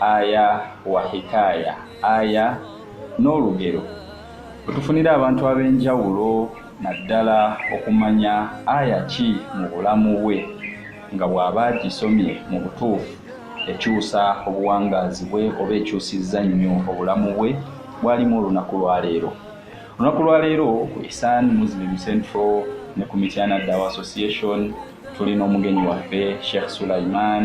aya wa hikaya aya n'olugero wetufunira abantu ab'enjawulo naddala okumanya aya ki mu bulamu bwe nga bw'aba agisomye mu butuufu ekyusa obuwangaazi bwe oba ekyusizza nnyo obulamu bwe bwalimu olunaku lwaleero olunaku lwaleero ku isan muslim central ne ku mityana dawa association tulina omugenyi waffe sheikh sulaiman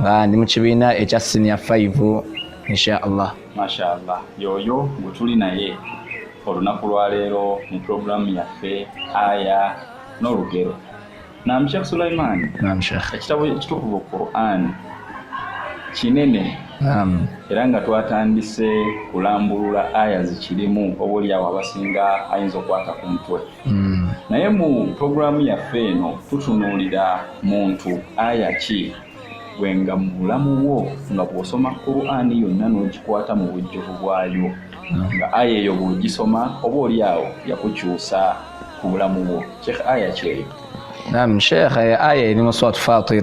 nga ndi mu kibiina ekya siniya 5 inshaallah mashaallah yoyo gwe tuli naye olunaku lwaleero mu pulogulaamu yaffe aya n'olugero nam sheekh sulaiman ekitabo ekitukuvu quran kinene era nga twatandise kulambulula aya zikirimu oba olyawo abasinga ayinza okukwata ku mutwe Hmm. naye mu pulogulaamu yaffe eno tutunuulira muntu aya ki gwe nga mu bulamu bwo nga bw'osoma qur'ani yonna n'ogikwata mu bujjuvu bwayo hmm. nga aya eyo bw'ogisoma oba oli awo yakukyusa ku bulamu bwo sheekh aya kyeyo nam sheekh aya eri mu swat fatir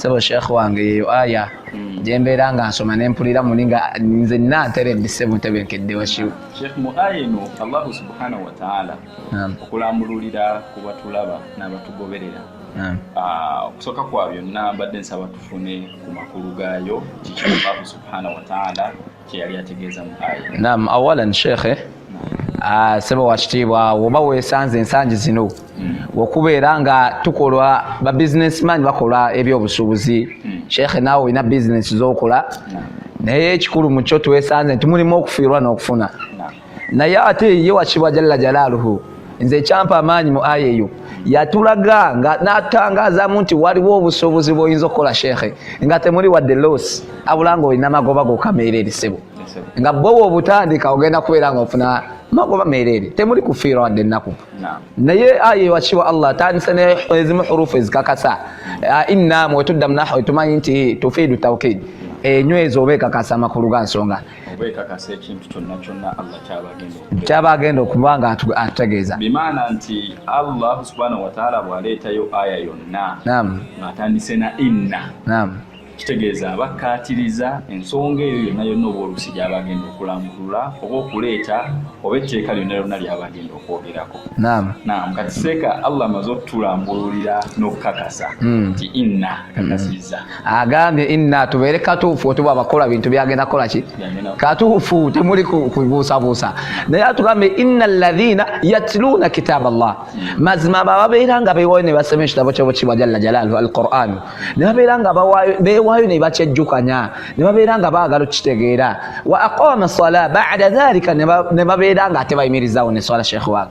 sebo sheikh wange yeyo aya hmm. gyembeera nga nsoma nempulira muli nga nze nateredde sebo ntebenkedde washiw sheikh mu aya eno allahu subhanahu wataala okulambululira ku batulaba n'abatugoberera ah, okusooka kwa byonna mbadde nsaba tufune ku makulu gaayo kiki allahu subhanahu wataala kyeyali ategeeza mu aya nam awalan sheikhe ah, sebo wakitiibwa woba wesanze ensangi zino hmm. okubeera nga tukola ba businessman bakola ebyobusuubuzi hmm. sheikhe naawe olina bizinesi zokola naye ekikulu mukyo twesanze nti mulimu okufiirwa n'okufuna naye ate ye wakibwa jalla jalaaluhu nze ekyampa amaanyi mu aya eyo yatulaga nga natangaazamu nti waliwo obusobozi bwoyinza okukola sheekhe nga temuli wadde los abula nga olina magoba gokameera erisebo nga bwowa obutandika ogenda kubeera nga ofuna magoba meereere temuli kufiira wadde ennaku naye aya eyo wakibwa allah atandise nezimu hurufu ezikakasa inna mwetuddamu nahu etumanyi nti tufiidu tawkid enywezi oba ekakasa amakulu ga nsonga kyaba agenda okuba nga atutegeeza bimaana nti allah subhanahu wataala bwaleetayo aya yonna ngaatandise na inna kitegeeza abakkaatiriza ensonga eyo yonna yonna oba olusi gyaba agenda okulambulula oba okuleeta oba etteeka lyonna lyonna lyaba agenda okwogerako nam kati seeka allah amaze okutulambululira n'okukakasa hmm. nti inna kakasizza hmm. agambye inna tubeere katuufu otuba abakola bintu byagenda kola ki katuufu temuli kubuusabuusa naye atugambye inna alladhina yatluuna kitaaba llah mazima abo ababeera nga bewaayo ne basoma ekitabo kyabo kibwa jalla jalaalu alquran ne babeera nga bewaayo ne bakyejjukanya ne babeera nga baagala okukitegeera wa aqama sala bada dhalika ne babeera nga ate bayimirizaawo ne swala sheekh wange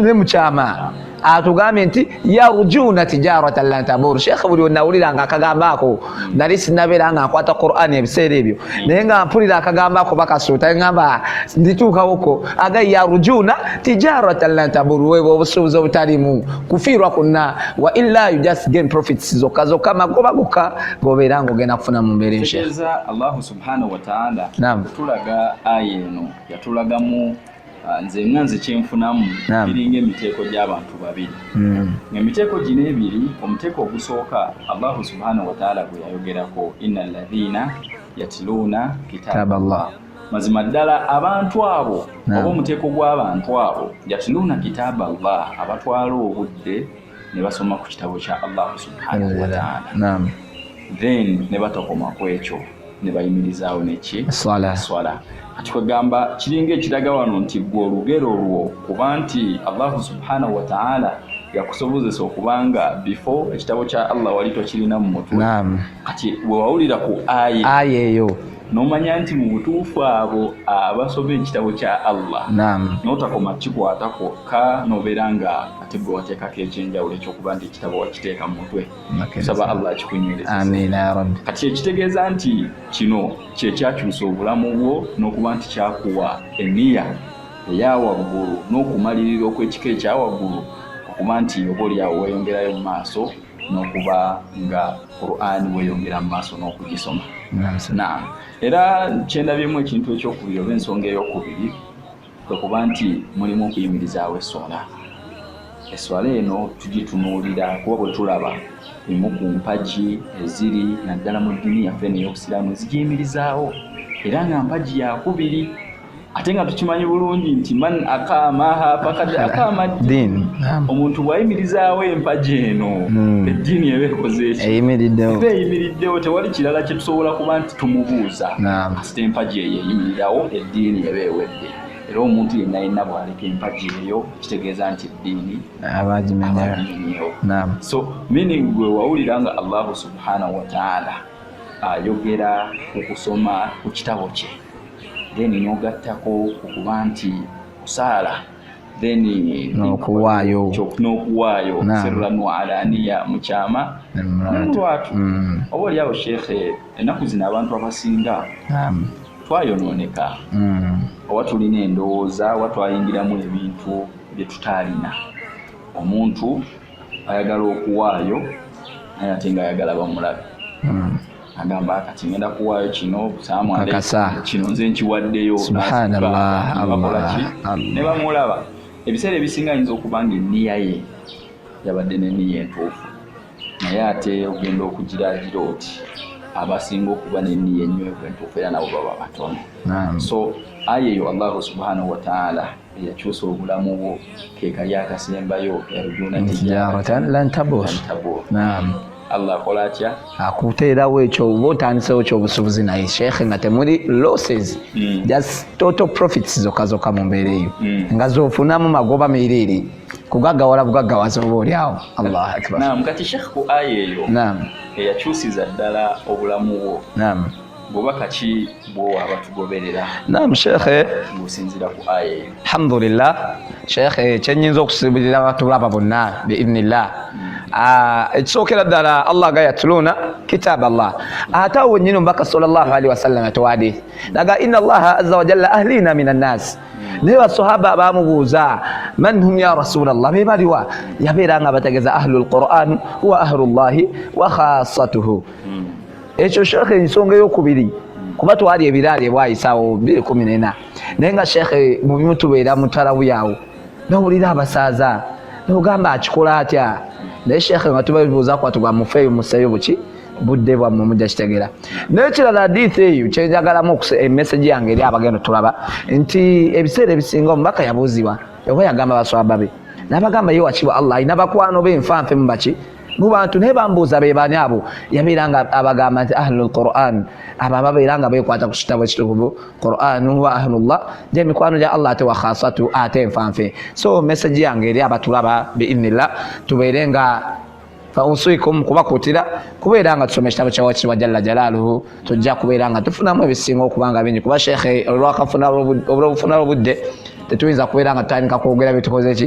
ne mukyama atugambye nti yarujuna tijaratan lan tabur sheekhe buli onawulira nga akagambo ako nali sinabeera nga nkwata quran ebiseera ebyo naye nga mpulira akagambo ako bakasuuta ngamba ndituukawoko aga yarujuna tijaratan lan tabur weba obusuubuzi obutalimu kufiirwa kunna wa illa you just gain profits zokka zokka magoba gokka gobeera nga ogenda kufuna mu mbeera ensheekh allahu subhanahu wataala tulaga aya eno yatulagamu Ah, nze nga nze kyenfunamu biringa emiteeko gy'abantu babiri hmm. emiteeko gino ebiri omuteeko ogusooka allahu subhanahu wataala gwe yayogerako ina ladhina yatiluuna kitaaba llah mazima ddala abantu abo oba omuteeko gw'abantu abo yatiluuna kitaaba llah abatwala obudde ne basoma ku kitabo kya allah subhanahu wataala then ne batokoma ku ekyo ne bayimirizaawo neki swala kati kwegamba kiringa ekiraga wano nti gwe olugero olwo kuba nti allahu subhanahu wataala yakusobozesa okubanga before ekitabo kya allah wali tokirina mu mutwe kati wewawulira ku aya eyo nomanya nti mu butuufu abo abasoma ekitabo kya allah notakoma kikwata kwokka nobeera nga ate gwe wateekako ekyenjawulo ekyokuba nti ekitabo wakiteeka mu mutwe saba allah akikunywerezamnrabbi kati kyekitegeeza nti kino kyekyakyusa obulamu bwo n'okuba nti kyakuwa eniya eyawaggulu n'okumalirira okwekika ekyawaggulu okuba nti oba olyawo weyongerayo mu maaso n'okuba nga qurani weyongera mu maaso n'okugisoma naam era kyendabyemu ekintu ekyokubiri oba ensonga eyokubiri kwe kuba nti mulimu okuyimirizaawo esswala esswala eno tugitunuulira kuba bwe tulaba emu ku mpagi eziri naddala mu ddiini yaffe eno ey'obusiraamu ezigiyimirizaawo era nga mpagi yakubiri ate nga tukimanyi bulungi nti man akamaha fakad akama ddiini omuntu bwayimirizaawo empagi eno hmm. eddiini eba ekoze eki eba eyimiriddewo tewali kirala kyetusobola kuba nti tumubuuza kasita empagi eyo eyimirirawo eddiini eba ewedde era omuntu yenna yenna bwaleka empagi eyo kitegeeza nti eddiini abagimenyewo so meaning gwe wawulira nga allahu subhanahu wataala ayogera ku kusoma ku kitabo kye then nogattako okuba nti kusaala nokuwaayo nokuwaayo sirran wa alaniya mukyama nemulwatu mm. oba oli awo sheekhe ennaku zino abantu abasinga twayonooneka mm. oba tulina endowooza oba twayingiramu ebintu bye tutaalina omuntu ayagala okuwaayo naye ate nga ayagala bamulabe mm. agamba kati ngenda kuwaayo kino kakasa kino nze nkiwaddeyo subhanallah ne bamulaba ebiseera ebisinga ayinza okuba nga enniya ye yabadde n'enniya entuufu naye ate ogenda okugiragira oti abasinga okuba n'enniya ennywevu entuufu era nabo baba batono so aya eyo allahu subhanahu wataala eyakyusa obulamu bwo kekali akasembayo yarjuna tijaratan lan tabur naam allah akola atya akuteerawo ekyo oba otandisewo kyobusubuzi naye sheikh nga temuli losses mm. just total profits zokka zokka mu mbeera eyo mm. nga zofunamu magoba meereere kugaggawala bugaggawaza oba oli awo allah akbar naam kati sheikh ku aya eyo naam eyakyusiza ddala obulamu bwo naam bubaka ki bwowa abatugoberera nam sheekhe musinzira ku aya eyo alhamdulillah sheekhe kyenyinza okusibirira abatulaba bonna biidnillah hmm. ah, ekisookera ddala allah ga yatuluuna kitaaba allah ate awo nyini omubaka salllahu alihi wasallam atwadi naga ina allaha aza wajalla ahliina min annaasi naye basahaba bamubuuza man hum ya rasulllah be baliwa yabeera nga bategeza ahlu lquran wa ahlu llahi wa khasatuhu hmm. ekyo sheekhe ensonga eyokubiri kuba twali ebiraali ebwayisawo biri kumi nena naye nga sheekhe mubimutubeera mutalabuyawo nowulira abasaaza nogamba akikola atya naye sheekhe nga tubabibuuza kwatuga mufeeyo museeyo buki budde bwammwe mujja kitegera nekirala hadithi eyo kyenjagalamu emesegi yange eri abagenda tulaba nti ebiseera ebisinga omubaka yabuuzibwa oba yagamba baswaba be nabagamba ye wakiba allah alina bakwano be nfanfe mubaki mubantu naye bambuuza bebani abo yabeera nga abagamba nti ahlu lquran abo ababeera nga bekwata ku kitabo ekitukuvu quran wa ahlullah gye mikwano gya allah ate wakhasatu ate enfanfe so message yange eri abatulaba biinillah tubeere nga fausikum kubakutira kubeera nga tusoma ekitabo kyawakitibwa jalla jalaaluhu tujja kubeera nga tufunamu ebisinga okubanga bingi kuba sheekhe olwakafuna obufuna obudde tetuyinza kubeera nga tutandika kwogera byetukoze ki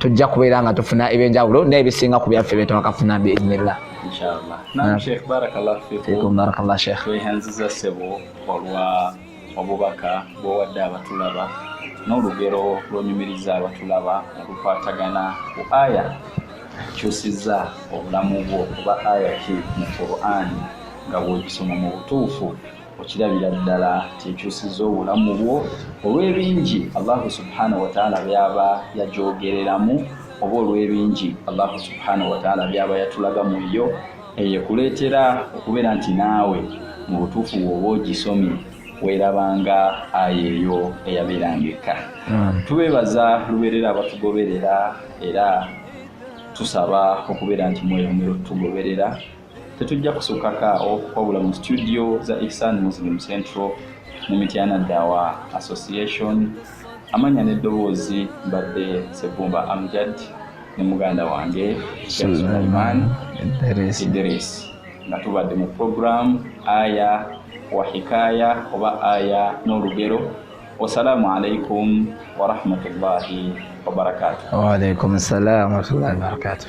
tujja kubeera nga tufuna ebyenjawulo naye bisinga ku byaffe byetwakafuna biiznillah barakallah sheikh tweyanziza sebo olwa obubaka bwowadde abatulaba n'olugero lwonyumiriza abatulaba olukwatagana ku aya kyusiza obulamu bwo kuba aya ki mu qur'ani nga bwogisoma mu butuufu okirabira ddala kyekyusiza obulamu bwo olw'ebingi allahu subhanahu wataala byaba yajogereramu oba olw'ebingi allahu subhanahu wataala byaba yatulaga mu yo eyo ekuleetera okubeera nti naawe mu butuufu bwoba ogisomye werabanga aya eyo eyabeeranga ekka hmm. tubeebaza lubeerera abatugoberera era tusaba okubeera nti mweyongera otutugoberera Tetujja kusukako awo wabula mu situdiyo za Ihsan Muslim Central ne Mityana Dawa Association amanya n'eddoboozi mbadde Sebumba Amjad ne muganda wange Sulaiman Idris nga tubadde mu puroguramu aya wa hikaya oba aya n'olugero wasalaamu alaikum warahmatullahi wabarakatuh waalaikum salaam warahmatullahi wabarakatuh